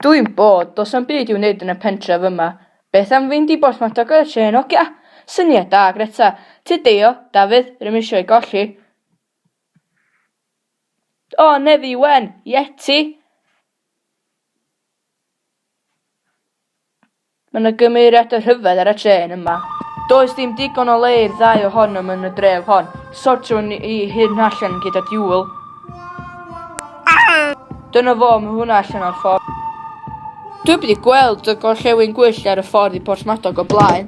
Dwi'n bored, does na'm byd i'w wneud yn y pentref yma. Beth am fynd i Porthmadog ar y trên, ogia? Syniad da, Greta! Tyd deio, Dafydd, r'ym isio'i golli. O, nefi wen! Yeti! Mae 'na gymeriad o rhyfedd ar y trên yma. Does dim digon o le i'r ddau ohonom yn y dref hon. Sortiwn i hyn allan gyda diwl. Dyna fo, mae hwnna allan o'r ffordd. Dwi wedi gweld y gorllewin gwyllt ar y ffordd i Porthmadog o blaen.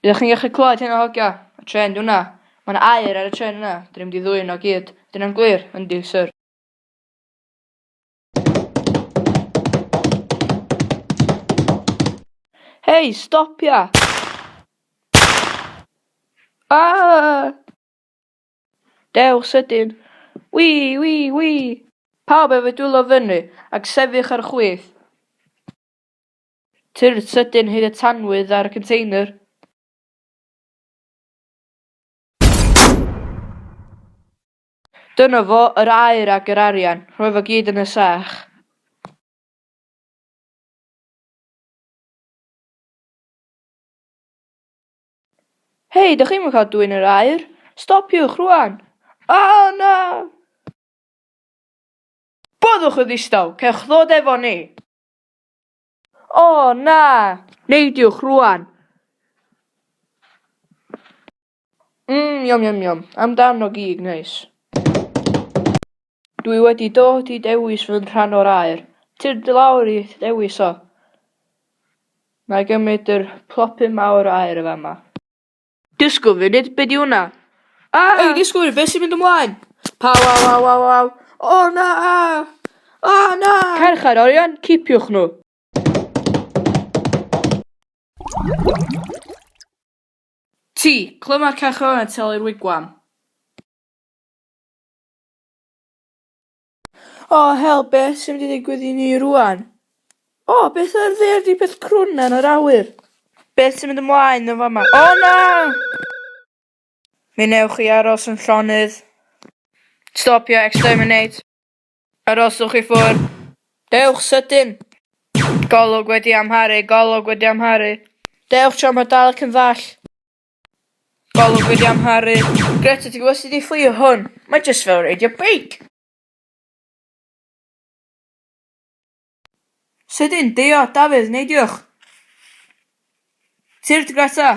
Ydych chi'n gallu clywed hyn o hogio? Y tren di hwnna. Mae'n air ar y tren yna. Dyn ni'n mynd i ddwy'n o gyd. Dyna'n glir, yndi, sir. Hei, stopia! Ah! Dewch sydyn. Wi, wi, wi! Pawb efo dwylo fyny, ac sefych ar chwith. Tyrd sydyn hyd y tanwydd ar y container. Dyna fo, yr aur ag yr arian, rhoi fo gyd yn y sach. Hei, dych chi'm yn cael dwyn yr aur? Stopiwch rwan! O, na! Boddwch yn ddistaw, cewch ddod efo ni! O, na! Neidiwch rwan! Mmm yum yum yum, amdano gig neis. Dwi wedi dod i dewis fy rhan o'r aer. Tir dy lawr i ddewis o. Na i gymryd yr plopyn mawr o aer yn fama. Dysgu funud, be di hwnna? Ah! Ei, dysgwyr, beth sy'n mynd ymlaen? Paw, waw, waw, waw, waw. O na! O na! Carchar orion, cipiwch nhw. Ti! Clyma'r carcharorion yn talu'r wigwam! O, hel, beth sy'n mynd i ddigwydd i ni rŵan? O, beth oedd fe ydy peth crwn yn yr awyr? Beth sy'n mynd ymlaen yn fama? O, na! Mi wnewch chi aros yn llonydd. Stopio exterminate. Arhoswch i ffwrdd. Dewch sydyn! Golwg wedi amharu, golwg wedi amharu. Dewch tra mae dal ac yn ddall. Golwg wedi amharu. Greta, ti'n gwybod sut i fflio hwn? Mae jyst fel reidio beic! Sydyn, deio, Dafydd, neidiwch! Tyrd, Greta!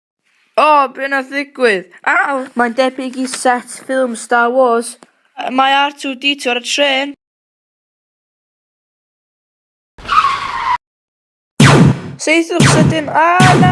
O! Be wnaeth ddigwydd? Aw! Mae'n debyg i set ffilm Star Wars. Mae R2-D2 ar y trên! Saethwch sydyn! A! Na!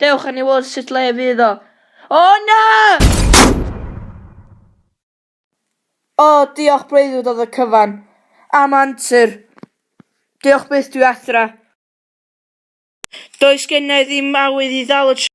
Dewch a ni weld sut le fydd o. O na! O, diolch breuddwyd oedd y cyfan. Am antur. Diolch byth dwi adra. Does gennai ddim awydd i ddal y trên.